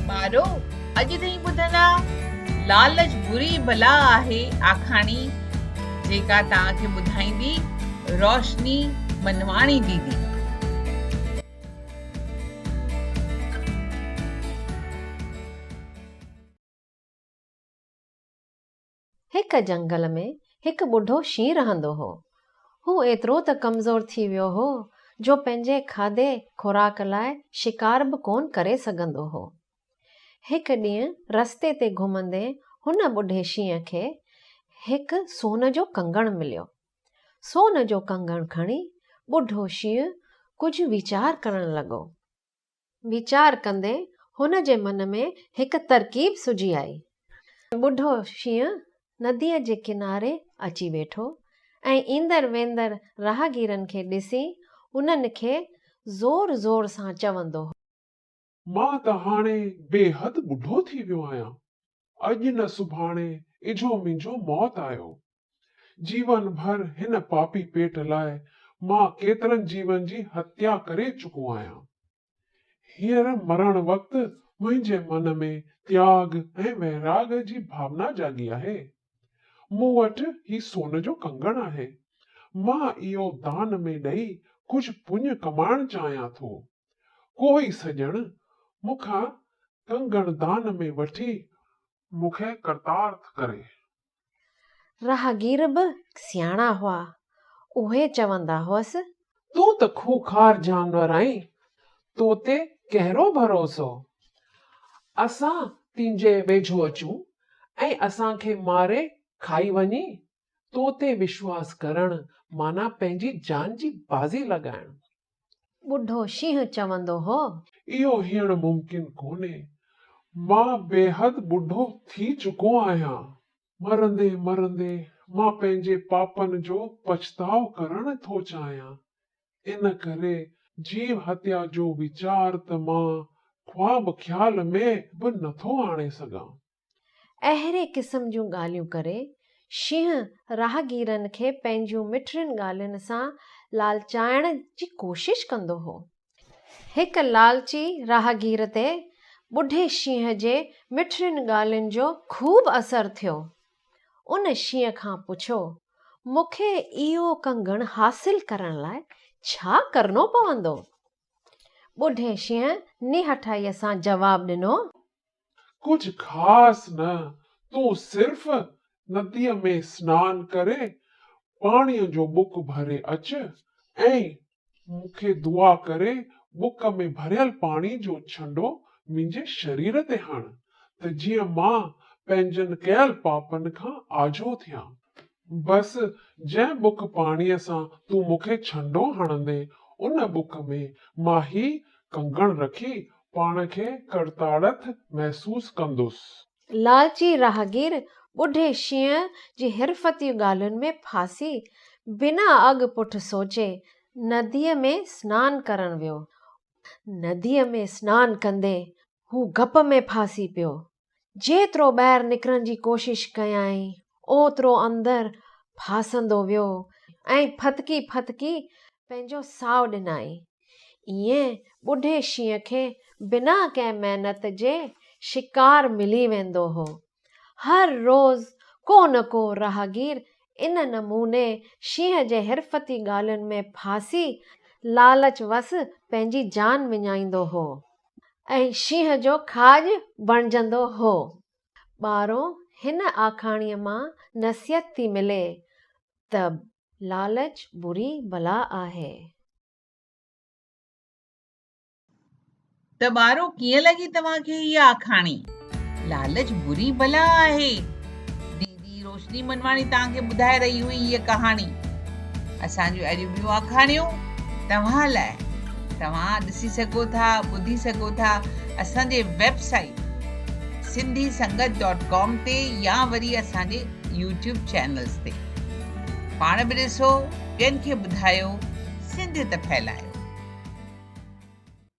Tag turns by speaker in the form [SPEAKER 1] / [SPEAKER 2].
[SPEAKER 1] ٻارو! اڄ تائين ٻڌندا، لالچ بري بلا آهي آکاڻي جيڪا توهان کي ٻڌائيندي روشني منواڻي ديدي.
[SPEAKER 2] هڪ جهنگل ۾ هڪ ٻڍو شينهن رهندو هو. هو ايترو ته ڪمزور ٿي ويو هو جو پنهنجي کاڌي خوراڪ لاء شڪار به ڪونه ڪري سگهندو هو. هڪ ڏينهن رستي تي گهمندي هن ٻڍي شينهن کي هڪ سون جو ڪنگڻ مليو. سون جو ڪنگڻ کڻي ٻڍو شينهن ڪجهه ويچار ڪرڻ لڳو. ويچار ڪندي هن جي من ۾ هڪ ترڪيب سجهي آئي. ٻڍو شينهن نديء جي ڪناري اچي ويٺو ۽ ايندڙ ويندڙ راهگيرن کي ڏسي انهن کي زور زور سان چوندو هو. مان
[SPEAKER 3] ته هاڻي بيحد ٻڍو ٿي ويو آهيان. اڄ نه سڀاڻي اجهو منهنجو موت آيو. جيون ڀر هن پاپي پيٽ لاء مان ڪيترن جيون جي هتيا ڪري چڪو آهيان. هينئر مرڻ وقت منهنجي من ۾ تياڳ ۽ ويراڳ جي ڀاونا جاڳي آهي. مون وٽ هي سون جو ڪنگڻ آهي. مان اهو دان ۾ ڏئي ڪجهه پڃ ڪمائڻ چاهيان ٿو. ڪوئي سڄڻ مون کان ڪنگڻ دان ۾ وٺي مون کي ڪرتارٿ ڪري. راهگير
[SPEAKER 2] به سياڻا هئا، اهي چوندا هئس. تون ته
[SPEAKER 4] کوکار جانور آهين، تو تي ڪهڙو ڀروسو؟ اسان تنهنجي ويجهو اچون ۽ اسان کي ماري کائي وڃين؟ تو تي وشواس ڪرڻ معنيٰ پنهنجي جان جي بازي لڳائڻ. ٻڍو
[SPEAKER 2] شينهن چوندو هو. اهو هيڻ
[SPEAKER 3] ممڪن ڪونهي. مان بيحد ٻڍو ٿي چڪو آهيان. مرندي مرندي مان پنهنجي پاپن جو پڇتاء ڪرڻ ٿو چاهيان. ان ڪري جيو هتيا جو ويچار ته مان خواب خيال ۾ به نٿو آڻي سگهان. اهڙي
[SPEAKER 2] قسم جون ڳالهيون ڪري شينهن راهگيرن کي پنهنجيون مٺڙين ڳالهين سان لالچائڻ جي ڪوشش ڪندو هو. هڪ لالچي راهگير تي ٻڍي شينهن جي مٺڙين ڳالهين جو خوب اثر ٿيو. ان شينهن کان پڇيو، مون کي اهو ڪنگڻ حاصل ڪرڻ لاء ڇا ڪرڻو پوندو؟ ٻڍي شينهن نهٺائيء سان جواب ڏنو، ڪجهه
[SPEAKER 3] خاص نه، تون صرف نديء ۾ سنان ڪري، پاڻيء جو بڪ ڀري اچ ۽ مون کي دعا ڪري بڪ ۾ ڀريل پاڻي جو ڇنڊو منهنجي شرير تي هڻ، ته جيئن مان پنهنجن ڪيل پاپن کان آجو ٿيان. بس جنهن بک پاڻيء سان تون مون کي ڇنڊو هڻندين، ان بک ۾ مان هي ڪنگڻ رکي پاڻ کي ڪرتاڙٿ محسوس ڪندس. لالچي راهگير
[SPEAKER 2] ٻڍي شينهن جي حرفتيون ڳالهين ۾ ڦاسي، بنا اڳ پٺ سوچي، نديء ۾ سنان ڪرڻ ويو. نديء ۾ سنان ڪندي، هو گپ ۾ ڦاسي پيو. جيترو ٻاهر نڪرڻ جي ڪوشش ڪيائين، اوترو اندر ڦاسندو ويو ۽ ڦٿڪي ڦٿڪي پنهنجو ساهه ڏنائين. ائين ٻڍي شينهن کي بنا ڪنهن محنت جي شڪار ملي ويندو هو. هر روز ڪو نه ڪو راهگير ان نموني شينهن جي حرفتي ڳالهين ۾ ڦاسي لالچ وس پنهنجي جان وڃائيندو هو. ۽ شينهن جو کاڄ بڻجندو هو. ٻارو، هن آکاڻيء مان نصيحت ٿي ملي ته لالچ بري بلا آهي. ته ٻارو، ڪيئن لڳي توهان کي هيء آکاڻي،
[SPEAKER 1] لالچ بري بلا آهي؟ جي روشني منواڻي توهان کي ٻڌائي رهي هئي هيء ڪهاڻي اسان جون اهڙيون ٻيون آکاڻيون توهان لاء توهان ڏسي سگهو ٿا ٻڌي سگهو ٿا اسان جي website Sindhi Sangat dot com تي يا وري اسان جي يوٽيوب چينلز تي پاڻ به ڏسو ٻين کي ٻڌايو سنڌيت ڦهلايو